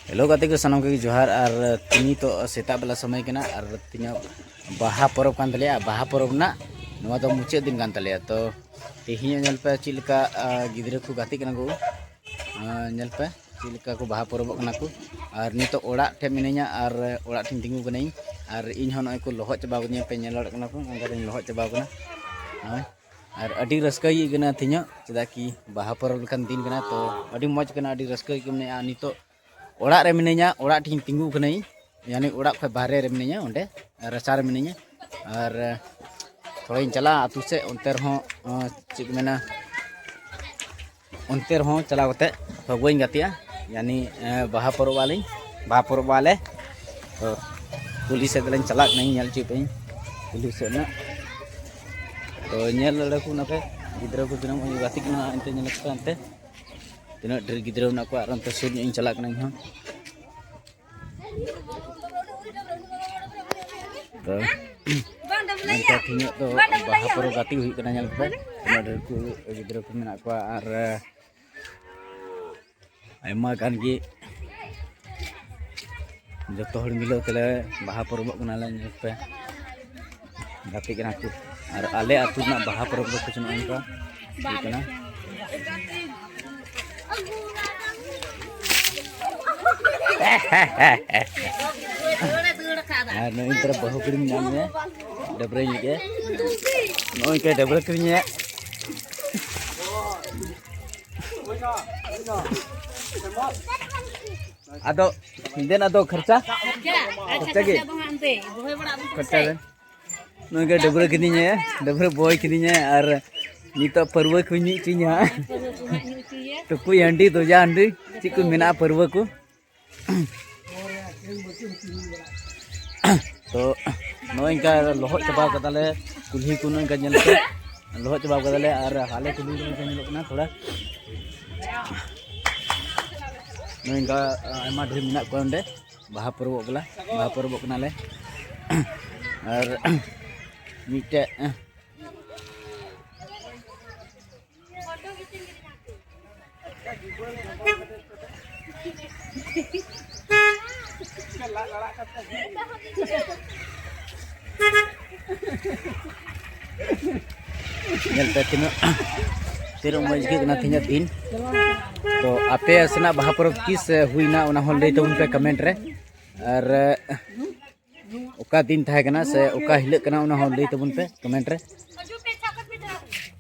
hello ᱜᱟᱛᱮ ᱠᱚ ᱥᱟᱱᱟᱢ ᱠᱚᱜᱮ ᱡᱚᱦᱟᱨ ᱟᱨ ᱛᱤᱦᱤᱧ ᱛᱚ ᱥᱮᱛᱟᱜ ᱵᱮᱞᱟ ᱥᱚᱢᱚᱭ ᱠᱟᱱᱟ ᱟᱨ ᱛᱤᱧᱟᱹᱜ ᱵᱟᱦᱟ ᱯᱚᱨᱚᱵᱽ ᱠᱟᱱ ᱛᱟᱞᱮᱭᱟ ᱵᱟᱦᱟ ᱯᱚᱨᱚᱵᱽ ᱨᱮᱱᱟᱜ ᱱᱚᱣᱟ ᱫᱚ ᱢᱩᱪᱟᱹᱫ ᱫᱤᱱ ᱠᱟᱱ ᱛᱟᱞᱮᱭᱟ ᱛᱚ ᱛᱮᱦᱮᱧ ᱧᱮᱞ ᱯᱮ ᱪᱮᱫ ᱞᱮᱠᱟ ᱜᱤᱫᱽᱨᱟᱹ ᱠᱚ ᱜᱟᱛᱮᱜ ᱠᱟᱱᱟ ᱠᱚ ᱧᱮᱞ ᱯᱮ ᱪᱮᱫ ᱞᱮᱠᱟ ᱠᱚ ᱵᱟᱦᱟ ᱯᱚᱨᱚᱵᱚᱜ ᱠᱟᱱᱟ ᱠᱚ ᱟᱨ ᱱᱤᱛᱚᱜ ᱚᱲᱟᱜ ᱴᱷᱮᱱ ᱢᱤᱱᱟᱹᱧᱟ ᱟᱨ ᱚᱲᱟᱜ ᱴᱷᱮᱱ ᱛᱤᱸᱜᱩ ᱠᱟᱹᱱᱟᱹᱧ ᱟᱨ ᱤᱧ ᱦᱚᱸ ᱱᱚᱜᱼᱚᱭ ᱠᱚ ᱞᱚᱦᱚᱫ ᱪᱟᱵᱟ ᱠᱟᱹᱫᱤᱧᱟ ᱯᱮ ᱧᱮᱞ ᱫᱟᱲᱮᱭᱟᱜ ᱠᱟᱱᱟ ᱠᱚ ᱚᱱᱠᱟᱛᱮᱧ ᱞᱚᱦᱚᱫ ᱪᱟᱵᱟ ᱠᱟᱱᱟ ᱦᱳᱭ ᱟᱨ ᱟᱹᱰᱤ ᱨᱟᱹᱥᱠᱟᱹ ᱟᱹᱭᱠᱟᱹᱜ ᱠᱟᱱᱟ ᱛᱮᱦᱮᱧᱚᱜ ᱪᱮᱫᱟᱜ ᱠᱤ ᱵᱟᱦᱟ ᱯᱚᱨᱚᱵᱽ ᱞᱮᱠᱟᱱ ᱫᱤᱱ ᱠᱟᱱᱟ ᱛᱚ ᱟᱹᱰᱤ ᱢᱚᱡᱽ ᱠᱟᱱᱟ ᱟᱹᱰᱤ ᱨᱟᱹᱥᱠᱟᱹ ᱟᱹᱭᱠᱟᱹᱜ ᱠᱟᱱᱟ ᱟᱨ ᱱᱤᱛᱚᱜ ᱚᱲᱟᱜ ᱨᱮ ᱢᱤᱱᱟᱹᱧᱟ ᱚᱲᱟᱜ ᱴᱷᱮᱱ ᱛᱤᱸᱜᱩ ᱠᱟᱹᱱᱟᱹᱧ ᱭᱟᱱᱤ ᱚᱲᱟᱜ ᱠᱷᱚᱱ ᱵᱟᱦᱨᱮ ᱨᱮ ᱢᱤᱱᱟᱹᱧᱟ ᱚᱸᱰᱮ ᱨᱟᱪᱟ ᱨᱮ ᱢᱤᱱᱟᱹᱧᱟ ᱟᱨ ᱛᱷᱚᱲᱟᱧ ᱪᱟᱞᱟᱜᱼᱟ ᱟᱹᱛᱩ ᱥᱮᱫ ᱚᱱᱛᱮ ᱨᱮᱦᱚᱸ ᱪᱮᱫ ᱠᱚ ᱢᱮᱱᱟ ᱚᱱᱛᱮ ᱨᱮᱦᱚᱸ ᱪᱟᱞᱟᱣ ᱠᱟᱛᱮ ᱯᱷᱟᱹᱜᱩᱣᱟᱹᱧ ᱜᱟᱛᱮᱜᱼᱟ ᱭᱟᱱᱤ ᱵᱟᱦᱟ ᱯᱚᱨᱚᱵᱽ ᱟᱞᱤᱧ ᱵᱟᱦᱟ ᱯᱚᱨᱚᱵᱽ ᱟᱞᱮ ᱛᱚ ᱠᱩᱞᱦᱤ ᱥᱮᱫ ᱞᱤᱧ ᱪᱟᱞᱟᱜ ᱠᱟᱹᱱᱟᱹᱧ ᱧᱮᱞ ᱦᱚᱪᱚᱭ ᱯᱮᱭᱟᱹᱧ ᱠᱩᱞᱦᱤ ᱥᱮᱫ ᱨᱮᱱᱟᱜ ᱛᱚ ᱧᱮᱞ ᱫᱟᱲᱮ ᱠᱚ ᱚᱱᱟᱯᱮ ᱜᱤᱫᱽᱨᱟᱹ ᱠᱚ ᱛᱤᱱᱟᱹᱜ ᱢᱚᱡᱽ ᱜᱟᱛᱮᱜ ᱠᱟᱱᱟ ᱚᱱᱛᱮ ᱧᱮᱞ ᱠᱚᱯᱮ ᱚᱱᱛᱮ ᱛᱤᱱᱟᱹᱜ ᱰᱷᱮᱨ ᱜᱤᱫᱽᱨᱟᱹ ᱢᱮᱱᱟᱜ ᱠᱚᱣᱟ ᱟᱨ ᱚᱱᱛᱮ ᱥᱩᱨ ᱧᱚᱜ ᱤᱧ ᱪᱟᱞᱟᱜ ᱠᱟᱱᱟ ᱤᱧ ᱦᱚᱸ ᱛᱚ ᱱᱚᱝᱠᱟ ᱛᱮᱦᱮᱧᱚᱜ ᱫᱚ ᱵᱟᱦᱟ ᱯᱚᱨᱚᱵᱽ ᱜᱟᱛᱮ ᱦᱩᱭᱩᱜ ᱠᱟᱱᱟ ᱧᱮᱞ ᱯᱮ ᱟᱭᱢᱟ ᱰᱷᱮᱨ ᱠᱚ ᱜᱤᱫᱽᱨᱟᱹ ᱠᱚ ᱢᱮᱱᱟᱜ ᱠᱚᱣᱟ ᱟᱨ ᱟᱭᱢᱟ ᱜᱟᱱ ᱜᱮ ᱡᱚᱛᱚ ᱦᱚᱲ ᱢᱤᱞᱟᱹᱣ ᱛᱮᱞᱮ ᱵᱟᱦᱟ ᱯᱚᱨᱚᱵᱚᱜ ᱠᱟᱱᱟᱞᱮ ᱧᱮᱞ ᱯᱮ ᱜᱟᱛᱮ ᱠᱟᱱᱟ ᱠᱚ ᱟᱨ ᱟᱞᱮ ᱟᱹᱛᱩ ᱨᱮᱱᱟᱜ ᱵᱟᱦᱟ ᱯᱚᱨᱚᱵᱽ ᱫᱚ ᱠᱩᱪ ᱱᱚᱜᱼᱚᱭ ᱱᱚᱝᱠᱟ ᱦᱩᱭᱩᱜ ᱠᱟᱱᱟ ᱟᱨ ᱱᱚᱜᱼᱚᱭ ᱛᱚᱨᱟ ᱵᱟᱹᱦᱩ ᱠᱩᱲᱤᱢ ᱧᱟᱢ ᱢᱮᱭᱟ ᱰᱟᱹᱵᱽᱨᱟᱹᱧ ᱞᱮᱜᱮ ᱱᱚᱜᱼᱚᱭ ᱠᱟᱭ ᱰᱟᱹᱵᱽᱨᱟᱹ ᱠᱤᱨᱤᱧᱮᱭᱟ ᱟᱫᱚ ᱫᱮᱱ ᱟᱫᱚ ᱠᱷᱚᱨᱪᱟ ᱠᱷᱚᱨᱪᱟ ᱜᱮ ᱠᱷᱚᱨᱪᱟ ᱫᱮᱱ ᱱᱩᱭ ᱜᱮ ᱰᱟᱹᱵᱽᱨᱟᱹ ᱠᱤᱫᱤᱧᱟᱭ ᱰᱟᱹᱵᱽᱨᱟᱹ ᱵᱚᱭ ᱠᱤᱫᱤᱧᱟᱭ ᱟᱨ ᱱᱤᱛᱚᱜ ᱯᱟᱹᱨᱣᱟᱹ ᱠᱚ ᱧᱩ ᱦᱚᱪᱚᱧᱟ ᱦᱟᱸᱜ ᱴᱩᱠᱩᱡ ᱦᱟᱺᱰᱤ ᱫᱚᱡᱟ ᱦᱟᱺᱰᱤ ᱪᱮᱫ ᱠᱚ ᱢᱮᱱᱟᱜᱼᱟ ᱯᱟᱹᱨᱣᱟᱹ ᱠᱚ ᱛᱚ ᱱᱚᱜᱼᱚᱭ ᱤᱱᱠᱟ ᱞᱚᱦᱚᱫ ᱪᱟᱵᱟ ᱠᱟᱫᱟᱞᱮ ᱠᱩᱞᱦᱤ ᱠᱚ ᱱᱚᱝᱠᱟ ᱧᱮᱞ ᱯᱮ ᱞᱚᱦᱚᱫ ᱪᱟᱵᱟ ᱠᱟᱫᱟᱞᱮ ᱟᱨ ᱟᱞᱮ ᱠᱩᱞᱦᱤ ᱨᱮ ᱧᱮᱞᱚᱜ ᱠᱟᱱᱟ ᱛᱷᱚᱲᱟ ᱱᱚᱝᱠᱟ ᱟᱭᱢᱟ ᱰᱷᱮᱨ ᱢᱮᱱᱟᱜ ᱠᱚᱣᱟ ᱚᱸᱰᱮ ᱵᱟᱦᱟ ᱯᱚᱨᱚᱵᱚᱜ ᱠᱟᱱᱟ ᱵᱟᱦᱟ ᱯᱚᱨᱚᱵᱚᱜ ᱠᱟᱱᱟᱞᱮ ᱟᱨ ᱢᱤᱫᱴᱮᱡ ᱧᱮᱞ ᱯᱮ ᱛᱤᱱᱟᱹᱜ ᱛᱤᱱᱟᱹᱜ ᱢᱚᱡᱽ ᱟᱹᱭᱠᱟᱹᱜ ᱠᱟᱱᱟ ᱛᱮᱦᱮᱧᱟᱜ ᱫᱤᱱ ᱛᱚ ᱟᱯᱮ ᱥᱮᱱᱟᱜ ᱵᱟᱦᱟ ᱯᱚᱨᱚᱵᱽ ᱛᱤᱥ ᱦᱩᱭᱱᱟ ᱚᱱᱟ ᱦᱚᱸ ᱞᱟᱹᱭ ᱛᱟᱵᱚᱱ ᱯᱮ ᱠᱚᱢᱮᱱᱴ ᱨᱮ ᱟᱨ ᱚᱠᱟ ᱫᱤᱱ ᱛᱟᱦᱮᱸ ᱠᱟᱱᱟ ᱥᱮ ᱚᱠᱟ ᱦᱤᱞᱳᱜ ᱠᱟᱱᱟ ᱚᱱᱟ ᱦᱚᱸ ᱞᱟᱹᱭ ᱛᱟᱵᱚᱱ ᱯᱮ ᱠᱚᱢᱮᱱᱴ ᱨᱮ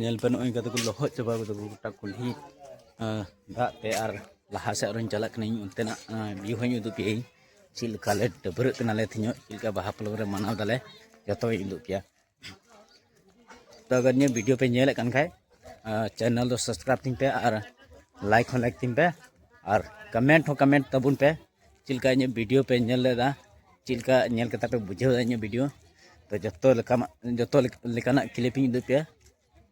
ᱧᱮᱞ ᱯᱮ ᱱᱚᱜᱼᱚᱭ ᱠᱟᱛᱮ ᱠᱚ ᱞᱚᱦᱚᱫ ᱪᱟᱵᱟ ᱠᱟᱫᱟ ᱜᱚᱴᱟ ᱠᱩᱞᱦᱤ ᱫᱟᱜ ᱛᱮ ᱟᱨ ᱞᱟᱦᱟ ᱥᱮᱫ ᱟᱨᱚᱧ ᱪᱟᱞᱟᱜ ᱠᱟᱹᱱᱟᱹᱧ ᱚᱱᱛᱮᱱᱟᱜ ᱵᱷᱤᱭᱩ ᱦᱚᱧ ᱩᱫᱩᱜ ᱯᱮᱭᱟᱹᱧ ᱪᱮᱫ ᱞᱮᱠᱟᱞᱮ ᱰᱟᱹᱵᱽᱨᱟᱹᱜ ᱠᱟᱱᱟᱞᱮ ᱛᱮᱦᱮᱧᱚᱜ ᱪᱮᱫ ᱞᱮᱠᱟ ᱵᱟᱦᱟ ᱯᱚᱨᱚᱵᱽ ᱨᱮ ᱢᱟᱱᱟᱣ ᱫᱟᱞᱮ ᱡᱚᱛᱚᱧ ᱩᱫᱩᱜ ᱯᱮᱭᱟ ᱛᱚ ᱟᱜᱟᱨ ᱱᱤᱭᱟᱹ ᱵᱷᱤᱰᱤᱭᱳ ᱯᱮ ᱧᱮᱞᱮᱫ ᱠᱟᱱ ᱠᱷᱟᱡ ᱪᱮᱱᱮᱞ ᱫᱚ ᱥᱟᱵᱥᱠᱨᱟᱭᱤᱵ ᱛᱤᱧ ᱯᱮ ᱟᱨ ᱞᱟᱭᱤᱠ ᱦᱚᱸ ᱞᱟᱭᱤᱠ ᱛᱤᱧ ᱯᱮ ᱟᱨ ᱠᱚᱢᱮᱱᱴ ᱦᱚᱸ ᱠᱚᱢᱮᱱᱴ ᱛᱟᱵᱚᱱ ᱯᱮ ᱪᱮᱫ ᱞᱮᱠᱟ ᱤᱧᱟᱹᱜ ᱵᱷᱤᱰᱤᱭᱳ ᱯᱮ ᱧᱮᱞ ᱞᱮᱫᱟ ᱪᱮᱫ ᱞᱮᱠᱟ ᱧᱮᱞ ᱠᱟᱛᱮ ᱯᱮ ᱵᱩᱡᱷᱟᱹᱣ ᱮᱫᱟ ᱤᱧᱟᱹᱜ ᱵᱷᱤᱰᱤᱭᱳ ᱛᱚ ᱡᱚᱛᱚ ᱞᱮᱠᱟᱱᱟᱜ ᱡᱚᱛᱚ ᱞᱮᱠᱟᱱᱟᱜ ᱠᱞᱤᱯ ᱤᱧ ᱩᱫᱩᱜ ᱯᱮᱭᱟ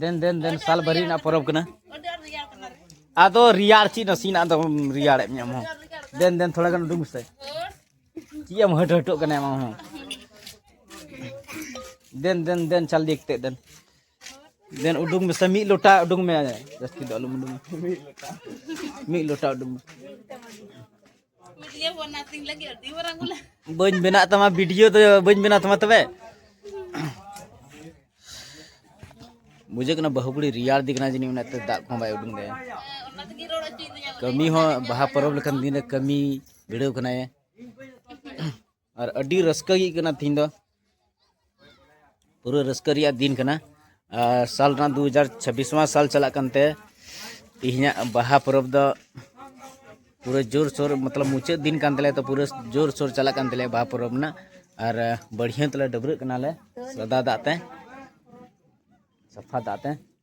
ᱫᱮᱱ ᱫᱮᱱ ᱫᱮᱱ ᱥᱟᱞ ᱵᱷᱟᱹᱨᱤ ᱨᱮᱱᱟᱜ ᱯᱚᱨᱚᱵᱽ ᱠᱟᱱᱟ ᱟᱫᱚ ᱨᱮᱭᱟᱲ ᱪᱮᱫ ᱱᱟᱥᱮᱱᱟᱜ ᱫᱚ ᱨᱮᱭᱟᱲᱮᱫ ᱢᱮ ᱟᱢ ᱦᱚᱸ ᱫᱮᱱ ᱫᱮᱱ ᱛᱷᱚᱲᱟ ᱜᱟᱱ ᱩᱰᱩᱠ ᱢᱮᱥᱮ ᱪᱮᱫ ᱮᱢ ᱦᱟᱹᱴ ᱦᱟᱹᱴᱚᱜ ᱠᱟᱱᱟ ᱟᱢ ᱦᱚᱸ ᱫᱮᱱ ᱫᱮᱱ ᱫᱮᱱ ᱪᱟᱞ ᱫᱤᱭᱮ ᱠᱟᱛᱮ ᱫᱮᱱ ᱫᱮᱱ ᱩᱰᱩᱠ ᱢᱮᱥᱮ ᱢᱤᱫ ᱞᱚᱴᱟ ᱩᱰᱩᱠ ᱢᱮ ᱡᱟᱹᱥᱛᱤ ᱫᱚ ᱟᱞᱚᱢ ᱩᱰᱩᱠ ᱢᱤᱫ ᱞᱚᱴᱟ ᱩᱰᱩᱠ ᱢᱮ ᱵᱟᱹᱧ ᱵᱮᱱᱟᱜ ᱛᱟᱢᱟ ᱵᱷᱤᱰᱤᱭᱳ ᱫᱚ ᱵᱟᱹᱧ ᱵᱮᱱᱟᱣ ᱛᱟᱢᱟ ᱛᱚᱵᱮ ᱵᱩᱡᱷᱟᱹᱜ ᱠᱟᱱᱟ ᱵᱟᱹᱦᱩ ᱠᱩᱲᱤ ᱨᱮᱭᱟᱲ ᱫᱤ ᱠᱟᱱᱟ ᱡᱟᱹᱱᱤᱡ ᱚᱱᱟᱛᱮ ᱫᱟᱜ ᱠᱚᱦᱚᱸ ᱵᱟᱭ ᱩᱰᱩᱝ ᱫᱟᱭᱟ ᱠᱟᱹᱢᱤ ᱦᱚᱸ ᱵᱟᱦᱟ ᱯᱚᱨᱚᱵᱽ ᱞᱮᱠᱟᱱ ᱫᱤᱱ ᱨᱮ ᱠᱟᱹᱢᱤ ᱵᱷᱤᱲᱟᱹᱣ ᱠᱟᱱᱟᱭ ᱟᱨ ᱟᱹᱰᱤ ᱨᱟᱹᱥᱠᱟᱹ ᱜᱮ ᱠᱟᱱᱟ ᱛᱤᱦᱤᱧ ᱫᱚ ᱯᱩᱨᱟᱹ ᱨᱟᱹᱥᱠᱟᱹ ᱨᱮᱭᱟᱜ ᱫᱤᱱ ᱠᱟᱱᱟ ᱟᱨ ᱥᱟᱞ ᱨᱮᱱᱟᱜ ᱫᱩ ᱦᱟᱡᱟᱨ ᱪᱷᱟᱵᱵᱤᱥᱣᱟᱸ ᱥᱟᱞ ᱪᱟᱞᱟᱜ ᱠᱟᱱᱛᱮ ᱛᱤᱦᱤᱧᱟᱜ ᱵᱟᱦᱟ ᱯᱚᱨᱚᱵᱽ ᱫᱚ ᱯᱩᱨᱟᱹ ᱡᱳᱨ ᱥᱳᱨ ᱢᱚᱛᱞᱚᱵ ᱢᱩᱪᱟᱹᱫ ᱫᱤᱱ ᱠᱟᱱ ᱛᱟᱞᱮᱭᱟ ᱛᱚ ᱯᱩᱨᱟᱹ ᱡᱳᱨ ᱥᱳᱨ ᱪᱟᱞᱟᱜ ᱠᱟᱱ ᱛᱟᱞᱮᱭᱟ ᱵᱟᱦᱟ ᱯᱚᱨᱚᱵᱽ ᱨᱮᱱᱟᱜ ᱟᱨ ᱵᱟᱹᱲᱦᱤᱭᱟᱹ ᱛᱮᱞᱮ ᱰᱟᱹᱵᱽᱨᱟᱹᱜ ᱠᱟᱱᱟᱞᱮ ᱥᱟᱫᱟ ᱫᱟᱜ ᱛᱮ ᱥᱟᱯᱷᱟ ᱫᱟᱜ ᱛᱮ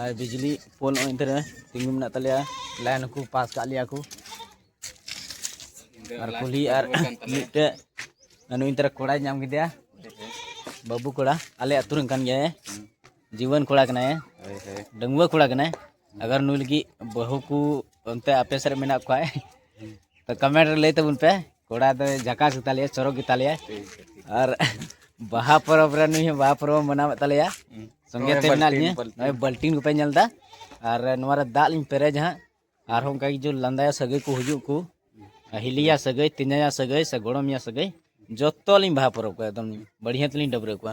ᱟᱨ ᱵᱤᱡᱽᱞᱤ ᱯᱳᱞ ᱱᱚᱜᱼᱚᱭ ᱚᱱᱛᱮ ᱨᱮ ᱛᱤᱸᱜᱩ ᱢᱮᱱᱟᱜ ᱛᱟᱞᱮᱭᱟ ᱞᱟᱭᱤᱱ ᱦᱚᱸᱠᱚ ᱯᱟᱥ ᱠᱟᱜ ᱞᱮᱭᱟ ᱠᱚ ᱟᱨ ᱠᱩᱞᱦᱤ ᱟᱨ ᱢᱤᱫᱴᱮᱡ ᱱᱩᱭ ᱚᱱᱛᱮ ᱨᱮ ᱠᱚᱲᱟᱭ ᱧᱟᱢ ᱠᱮᱫᱮᱭᱟ ᱵᱟᱹᱵᱩ ᱠᱚᱲᱟ ᱟᱞᱮ ᱟᱹᱛᱩ ᱨᱮᱱ ᱠᱟᱱ ᱜᱮᱭᱟᱭ ᱡᱤᱣᱟᱹᱱ ᱠᱚᱲᱟ ᱠᱟᱱᱟᱭ ᱰᱟᱺᱜᱩᱣᱟᱹ ᱠᱚᱲᱟ ᱠᱟᱱᱟᱭ ᱟᱜᱟᱨ ᱱᱩᱭ ᱞᱟᱹᱜᱤᱫ ᱵᱟᱹᱦᱩ ᱠᱚ ᱚᱱᱛᱮ ᱟᱯᱮ ᱥᱮᱫ ᱨᱮ ᱢᱮᱱᱟᱜ ᱠᱚᱣᱟ ᱛᱚ ᱠᱚᱢᱮᱱᱴ ᱨᱮ ᱞᱟᱹᱭ ᱛᱟᱵᱚᱱ ᱯᱮ ᱠᱚᱲᱟ ᱫᱚ ᱡᱟᱠᱟᱥ ᱜᱮᱛᱟᱞᱮᱭᱟ ᱪᱚᱨᱚᱠ ᱜᱮᱛᱟᱞᱮᱭᱟ ᱟᱨ ᱵᱟᱦᱟ ᱯᱚᱨᱚᱵᱽ ᱨᱮ ᱱᱩᱭ ᱦᱚᱸ ᱵᱟᱦᱟ ᱯᱚᱨᱚᱵᱽ ᱢᱟᱱᱟᱣᱮᱫ ᱛᱟᱞᱮᱭᱟ ᱥᱚᱸᱜᱮ ᱛᱮ ᱢᱮᱱᱟᱜ ᱞᱤᱧᱟᱹ ᱱᱚᱜᱼᱚᱭ ᱵᱟᱹᱞᱴᱤᱱ ᱠᱚᱯᱮ ᱧᱮᱞ ᱮᱫᱟ ᱟᱨ ᱱᱚᱣᱟ ᱨᱮ ᱫᱟᱜ ᱞᱤᱧ ᱯᱮᱨᱮᱡᱟ ᱦᱟᱸᱜ ᱟᱨᱦᱚᱸ ᱚᱱᱠᱟ ᱜᱮ ᱡᱩ ᱞᱟᱸᱫᱟᱭᱟ ᱥᱟᱹᱜᱟᱹᱭ ᱠᱚ ᱦᱤᱡᱩᱜ ᱠᱚ ᱦᱤᱞᱤᱭᱟ ᱥᱟᱹᱜᱟᱹᱭ ᱛᱤᱧᱟᱭᱟ ᱥᱟᱹᱜᱟᱹᱭ ᱥᱮ ᱜᱚᱲᱚᱢᱤᱭᱟ ᱥᱟᱹᱜᱟᱹᱭ ᱡᱚᱛᱚ ᱞᱤᱧ ᱵᱟᱦᱟ ᱯᱚᱨᱚᱵᱽ ᱠᱚᱣᱟ ᱮᱠᱫᱚᱢ ᱵᱟᱹᱲᱤᱭᱟᱹ ᱛᱮᱞᱤᱧ ᱰᱟᱹᱵᱽᱨᱟᱹ ᱠᱚᱣᱟ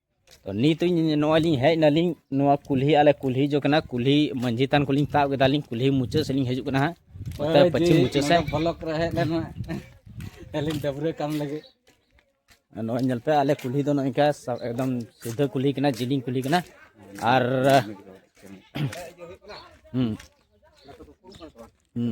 ᱛᱚ ᱱᱤᱛᱚᱜ ᱱᱚᱜᱼᱚᱭ ᱞᱤᱧ ᱦᱮᱡ ᱱᱟᱞᱤᱧ ᱱᱚᱣᱟ ᱠᱩᱞᱦᱤ ᱟᱞᱮ ᱠᱩᱞᱦᱤ ᱡᱚ ᱠᱟᱱᱟ ᱠᱩᱞᱦᱤ ᱢᱟᱹᱡᱷᱤ ᱛᱟᱱ ᱠᱚᱞᱤᱧ ᱛᱟᱵ ᱠᱮᱫᱟᱞᱤᱧ ᱠᱩᱞᱦᱤ ᱢᱩᱪᱟᱹᱫ ᱥᱮᱫ ᱞᱤᱧ ᱦᱤᱡᱩᱜ ᱠᱟᱱᱟ ᱦᱟᱸᱜ ᱚᱱᱛᱮ ᱯᱟᱹᱪᱷᱤᱢ ᱢᱩᱪᱟᱹᱫ ᱥᱮᱫ ᱵᱞᱚᱠ ᱨᱮ ᱦᱮᱡ ᱞᱮᱱᱟ ᱟᱹᱞᱤᱧ ᱰᱟᱹᱵᱽᱨᱟᱹ ᱠᱟᱢ ᱞᱟᱹᱜᱤᱫ ᱱᱚᱜᱼᱚᱭ ᱧᱮᱞ ᱯᱮ ᱟᱞᱮ ᱠᱩᱞᱦᱤ ᱫᱚ ᱱᱚᱝᱠᱟ ᱮᱠᱫᱚᱢ ᱥᱤᱫᱷᱟᱹ ᱠᱩᱞᱦᱤ ᱠᱟᱱᱟ ᱡᱤᱞᱤᱧ ᱠᱩᱞᱦᱤ ᱠᱟᱱᱟ ᱟᱨ ᱦᱩᱸ ᱦᱩᱸ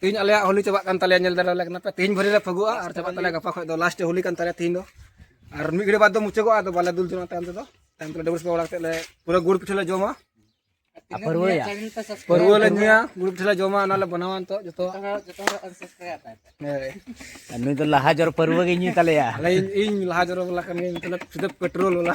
ᱛᱮᱦᱮᱧ ᱟᱞᱮᱭᱟᱜ ᱦᱳᱞᱤ ᱪᱟᱵᱟᱜ ᱠᱟᱱ ᱛᱟᱞᱮᱭᱟ ᱧᱮᱞ ᱫᱟᱲᱮᱭᱟᱞᱮ ᱠᱟᱱᱟ ᱯᱮ ᱛᱮᱦᱮᱧ ᱵᱷᱳᱨᱮ ᱞᱮ ᱯᱷᱟᱹᱜᱩᱜᱼᱟ ᱟᱨ ᱪᱟᱵᱟᱜ ᱛᱟᱞᱮᱭᱟ ᱜᱟᱯᱟ ᱠᱷᱚᱡ ᱫᱚ ᱞᱟᱥᱴ ᱦᱳᱞᱤ ᱠᱟᱱ ᱛᱟᱞᱮᱭᱟ ᱛᱮᱦᱮᱧ ᱫᱚ ᱟᱨ ᱢᱤᱫ ᱜᱷᱟᱹᱲᱤ ᱵᱟᱫ ᱫᱚ ᱢᱩᱪᱟᱹᱫᱚᱜᱼᱟ ᱟᱫᱚ ᱵᱟᱞᱮ ᱫᱩᱞ ᱡᱚᱢᱟ ᱛᱟᱭᱚᱢ ᱛᱮᱫᱚ ᱛᱟᱭᱚᱢ ᱛᱮᱞᱮ ᱰᱟᱹᱵᱩᱥ ᱵᱟᱲᱟ ᱠᱟᱛᱮ ᱞᱮ ᱯᱩᱨᱟᱹ ᱜᱩᱲ ᱯᱤᱴᱷᱟᱹ ᱞᱮ ᱡᱚᱢᱟ ᱯᱟᱹᱨᱣᱟᱹᱭᱟ ᱯᱟᱹᱨᱣᱟᱹ ᱞᱮ ᱧᱩᱭᱟ ᱜᱩᱲ ᱯᱤᱴᱷᱟᱹ ᱞᱮ ᱡᱚᱢᱟ ᱚᱱᱟ ᱞᱮ ᱵᱮᱱᱟᱣᱟ ᱱᱤᱛᱚᱜ ᱡᱚᱛᱚ ᱱᱩᱭ ᱫᱚ ᱞᱟᱦᱟ ᱡᱚᱨ ᱯᱟᱹᱨᱣᱟᱹ ᱜᱮ ᱧᱩᱭ ᱛᱟᱞᱮᱭᱟ ᱟᱞᱮ ᱤᱧ ᱞᱟᱦᱟ ᱡᱚᱨ ᱵᱟᱞᱟ ᱠᱟᱱ ᱜᱤᱭᱟᱹᱧ ᱢᱚᱛᱞᱚᱵ ᱥᱤᱫᱷᱟᱹ ᱯᱮᱴᱨᱳᱞ ᱵᱟᱞᱟ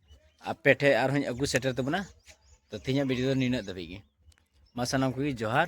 ᱟᱯᱮ ᱴᱷᱮᱱ ᱟᱨᱦᱚᱸᱧ ᱟᱹᱜᱩ ᱥᱮᱴᱮᱨ ᱛᱟᱵᱚᱱᱟ ᱛᱚ ᱛᱮᱦᱮᱧᱟᱜ ᱵᱷᱤᱰᱤᱭᱳ ᱫᱚ ᱱᱤᱱᱟᱹᱜ ᱫᱷᱟᱹᱵᱤᱡ ᱜᱮ ᱢᱟ ᱥᱟᱱᱟᱢ ᱠᱚᱜᱮ ᱡᱚᱦᱟᱨ